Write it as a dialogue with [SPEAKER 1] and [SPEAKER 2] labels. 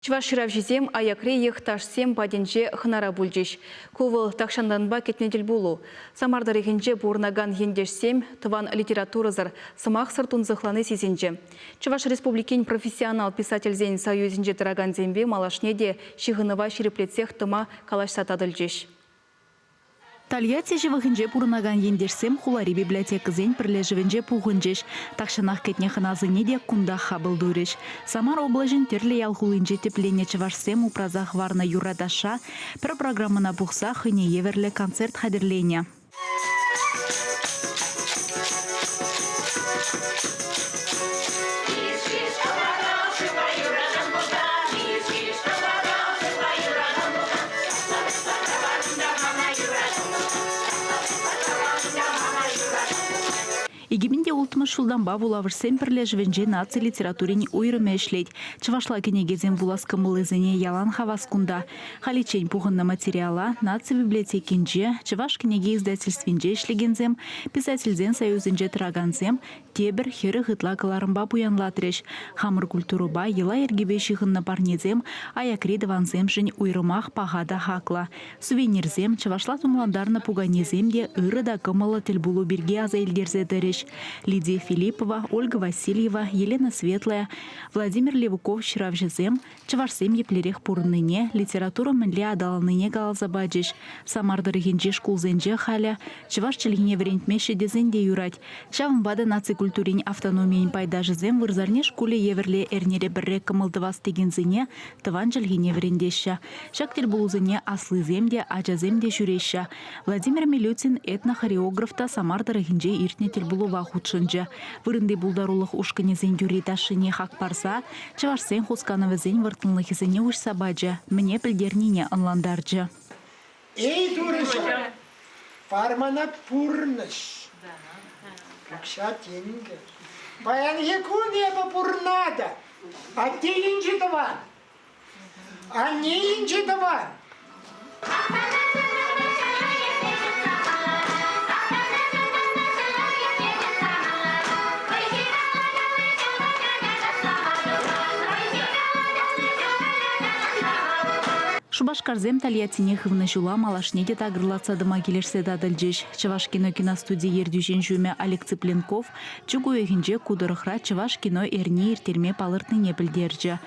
[SPEAKER 1] Чӑваш ҫыравҫисем аякри йӑхташсем патӗнче хӑнара пулчӗҫ. Ку вӑл тахҫантанпа кӗтнӗ тӗлпулу. Самар тӑрӑхӗнче пурӑнакан ентешсем тӑван литературӑсӑр, сӑмахсӑр тунсӑхлани сисӗнчӗ. Чӑваш Республикин профессионал писательсен союзӗнче тӑракансемпе малашне те ҫыхӑнӑва ҫирӗплетсех тӑма калаҫса татӑлчӗҫ.
[SPEAKER 2] Тольятти ҫывӑхӗнче пурӑнакан ентешсем хулари библиотекӑсен пӗрлешӗвӗнче пухӑнчӗҫ. Тахҫанах кӗтнӗ хӑнасене те кунтах хапӑл турӗҫ. Самар облаҫӗн тӗрлӗ ял хулинче тӗпленнӗ чӑвашсем упраса хӑварнӑ юрра-ташша, пӗр программӑна пухса хӑйне евӗрлӗ концерт хатӗрленӗ. Икӗпинте улттӑмӗш ҫултанпа вулавӑшсен пӗрлешӗвӗнче наци литературин уйрӑмӗ ӗҫлет. Чӑвашла кӗнекесем вулас кӑмӑллисене ялан хавас кунта. Халиччен пухӑннӑ материала наци библиотекинче, Чӑваш кӗнеке издательствинче ӗҫлекенсем, писательсен союзӗнче тӑракансем, тепӗр хӗрӗх ытла кӑларӑмпа пуянлатрӗҫ. Хамӑр культурӑпа йӑла-йӗркепе ҫыхӑннӑ парнесем аякри тӑвансемшӗн уйрӑмах паха та хаклӑ. Сувенирсем, чӑвашла тумлантарнӑ пуканесем те ырӑ та кӑмӑллӑ тӗлпулу пирки аса илтерсе тӑрӗҫ. Лидия Филиппова, Ольга Васильева, Елена Светлая, Владимир Левуков ҫыравҫӑсем Чӑвашсем еплерех пурӑннине, литература мӗнле аталаннине каласа пачӗҫ. Самар тӑрӑхӗнчи шкулсенче халӗ чӑваш чӗлхине вӗрентмеҫҫӗ тесен те юрать. Ҫавӑнпа та наци культурин автономийӗн пайташӗсем вырсарни шкулӗ евӗрлӗ эрнере пӗрре кӑмӑл тӑвас текенсене тӑван чӗлхене вӗрентеҫҫӗ. Ҫак тӗлпулусене аслисем те, ачасем те ҫӳреҫҫӗ. Владимир Милютин этнохореограф та Самар тӑрӑхӗнче иртнӗ тӗлпулӑва хутшӑнчӗ. Вырӑнти пултарулӑх ушкӑнӗсен юрри-ташшине хак парса чӑвашсен хусканӑвӗсен вӑрттӑнлӑхӗсене уҫса пачӗ, мӗне пӗлтернине ӑнлантарчӗ. Эй,
[SPEAKER 3] турӑҫа! Пармана пурнӑҫ, укҫа, тенкӗ. Паянхи кун эпӗ пурӑнатӑп. Атте инҫе тӑван. Анне инҫе тӑвар.
[SPEAKER 2] Шупашкарсем Тольяттине хывнӑ ҫула малашне те такӑрлатса тӑма килӗшсе татӑлчӗҫ. Чӑваш кино киностуди ертӳҫин ҫумӗ Олег Цыпленков чӳк уйӑхӗнче ку тӑрӑхра чӑваш кино эрни ирттерме палӑртнине пӗлтерчӗ.